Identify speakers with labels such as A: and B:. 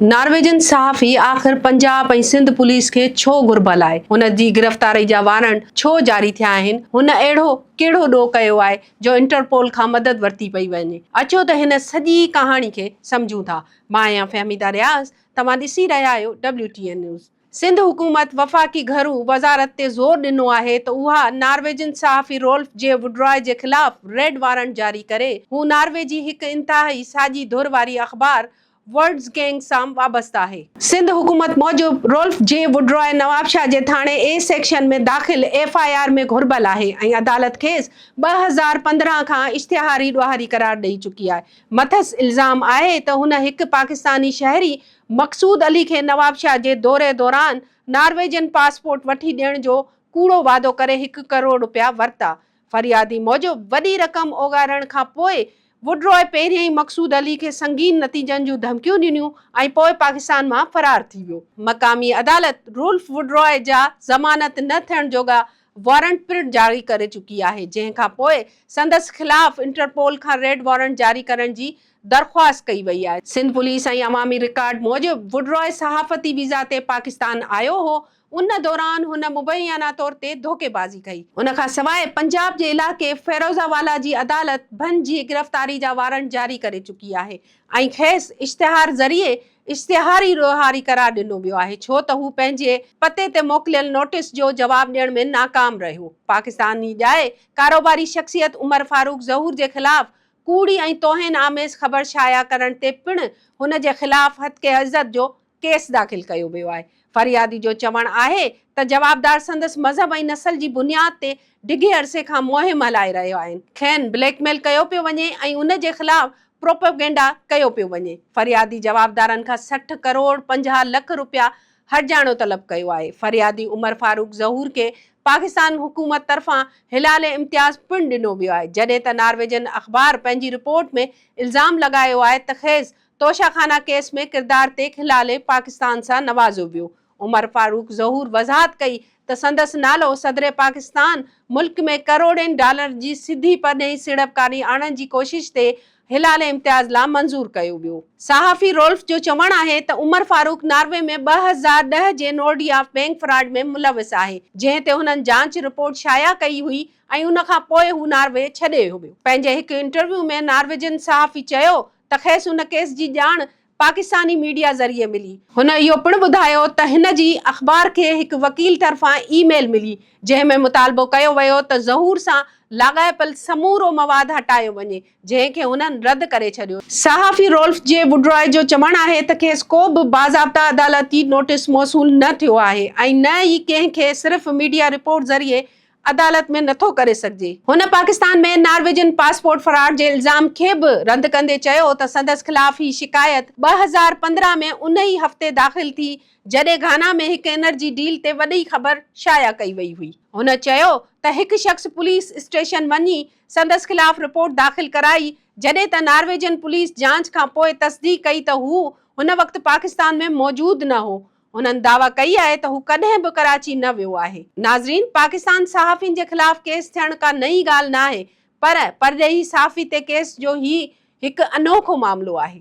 A: Norwegian صحافي آخر Punjab ۽ Sindh police کي ڇو گهربل آهي؟ هن جي گرفتاري جا وارنٽ ڇو جاري ٿيا آهن؟ هن اهڙو ڪهڙو ڏوهه ڪيو آهي جو انٽرپول کان مدد ورتي پئي وڃي؟ اچو ته هن سڄي ڪهاڻي کي سمجهون ٿا. مان آهيان فهميده رياض، توهان ڏسي رهيا آهيو W T N news. Sindh حڪومت وفاقي گهرو وزارت تي زور ڏنو آهي ته اها نارويجن صحافي رولف جي وڊراء جي خلاف ريڊ وارنٽ جاري ڪري، هو نارويجي هڪ انتهائي ساڄي ڌر واري اخبار ورڊز گينگ سان وابسته آهي. سنڌ حڪومت موجب رولف جي وڊرائي نوابشاهه جي ٿاڻي اي سيڪشن ۾ داخل ايف آء آر ۾ گهربل آهي ۽ عدالت کيس ٻه هزار پندرهن کان اشتهاري ڏوهاري قرار ڏئي چڪي آهي مٿس الزام آهي ته هن هڪ پاڪستاني شهري مقصود علي کي نوابشاهه جي دوري دوران نارويجن پاسپورٽ وٺي ڏيڻ جو ڪوڙو وعدو ڪري هڪ ڪروڙ رپيا ورتا ۽ فريادي موجب وڏي رقم اوڳارڻ کان پوء وڊراء پهريائين ئي مقصود علي کي سنگين نتيجن جون ڌمڪيون ڏنيون ۽ پوء پاڪستان مان فرار ٿي ويو. مقامي عدالت رولف وڊراء جا ضمانت نه ٿيڻ جوڳا وارنٽ پڻ جاري ڪري چڪي آهي، جنهن کان پوء سندس خلاف انٽرپول کان ريڊ وارنٽ جاري ڪرڻ جي درخواست ڪئي وئي آهي. سنڌ پوليس ۽ عوامي رڪارڊ موجب وڊراء صحافتي ويزا تي پاڪستان آيو هو، ان دوران هن مبينا طور تي ڌوڪيبازي ڪئي. ان کان سواء پنجاب جي علائقي فيروزآبالا جي عدالت بن جي گرفتاري جا وارنٽ جاري ڪري چڪي آهي ۽ کيس اشتهار ذريعي اشتهاري ڏوهاري قرار ڏنو ويو آهي ڇو ته هو پنهنجي پتي تي موڪليل نوٽيس جو جواب ڏيڻ ۾ ناڪام رهيو. پاڪستاني ڄائي ڪاروباري شخصيت عمر فاروق ظهور جي خلاف ڪوڙي ۽ توهين آميز خبر شايع ڪرڻ تي پڻ هن جي خلاف هتڪي عزت جو ڪيس داخل ڪيو ويو آهي. فريادي جو چوڻ آهي ته جوابدار سندس مذهب ۽ نسل جي بنياد تي ڊگهي عرصي کان مهم هلائي رهيا آهن. کين بليڪ ميل ڪيو پيو وڃي ۽ ان جي خلاف پروپيگنڊا ڪيو پيو وڃي. فريادي جوابدارن کان سٺ ڪروڙ پنجاهه لک رپيا هرجاڻو طلب ڪيو آهي. فريادي عمر فاروق ظهور کي پاڪستان حڪومت طرفان هلال امتياز پڻ ڏنو ويو آهي. جڏهن ته نارويجن اخبار پنهنجي رپورٽ ۾ الزام لڳايو آهي ته خيز توشه خانه ڪيس ۾ ڪردار تي کلالي پاڪستان سان نوازيو ويو. عمر فاروق ظهور وضاحت ڪئي ته سندس نالو صدر پاڪستان ملڪ ۾ ڪروڙين ڊالرن جي سڌي پرڏيهي سيڙپڪاري آڻڻ جي ڪوشش تي هلالي امتياز لا منظور ڪيو ويو. صحافي رولف جو چوڻ آهي ته عمر فاروق ناروي ۾ ٻه هزار ڏهه جي نورڊيا بئنڪ فراڊ ۾ ملوث آهي جنهن تي هنن جانچ رپورٽ شايع ڪئي هئي ۽ ان کان پوء هو ناروي ڇڏي ويو. پنهنجي هڪ انٽرويو ۾ نارويجن صحافي چيو ته کيس ان ڪيس جي ڄاڻ پاڪستاني ميڊيا ذريعي ملي. هن اهو پڻ ٻڌايو ته هن جي اخبار کي هڪ وڪيل طرفان اي ميل ملي جنهن ۾ مطالبو ڪيو ويو ته ظهور سان لاڳاپيل سمورو مواد هٽايو وڃي جنهن کي هنن رد ڪري ڇڏيو. صحافي رولف جي ووڊراء جو چوڻ آهي ته کيس ڪو به باضابطه عدالتي نوٽيس موصول نه ٿيو آهي ۽ نه ئي ڪنهن کي صرف ميڊيا رپورٽ ذريعي عدالت ۾ نٿو ڪري سگهجي. هن پاڪستان ۾ نارويجن پاسپورٽ فراڊ جي الزام کي به رد ڪندي چيو ته سندس خلاف هي شڪايت ٻه هزار پندرهن ۾ ان ئي هفتي داخل ٿي جڏهن گهانا ۾ هڪ انرجي ڊيل تي وڏي خبر شايع ڪئي وئي هئي. هن چيو ته هڪ شخص پوليس اسٽيشن وڃي سندس خلاف رپورٽ داخل ڪرائي جڏهن ته نارويجن پوليس جاچ کانپوء تصديق ڪئي ته هو هن وقت پاڪستان ۾ موجود نه هو هنن دعويٰ ڪئي آهي ته هو ڪڏهن به ڪراچي نه ويو آهي. ناظرين پاڪستان صحافين جي خلاف ڪيس ٿيڻ ڪا نئين ڳالهه ناهي پر پرڏيهي صحافي تي ڪيس جو هي هڪ انوکو معاملو آهي.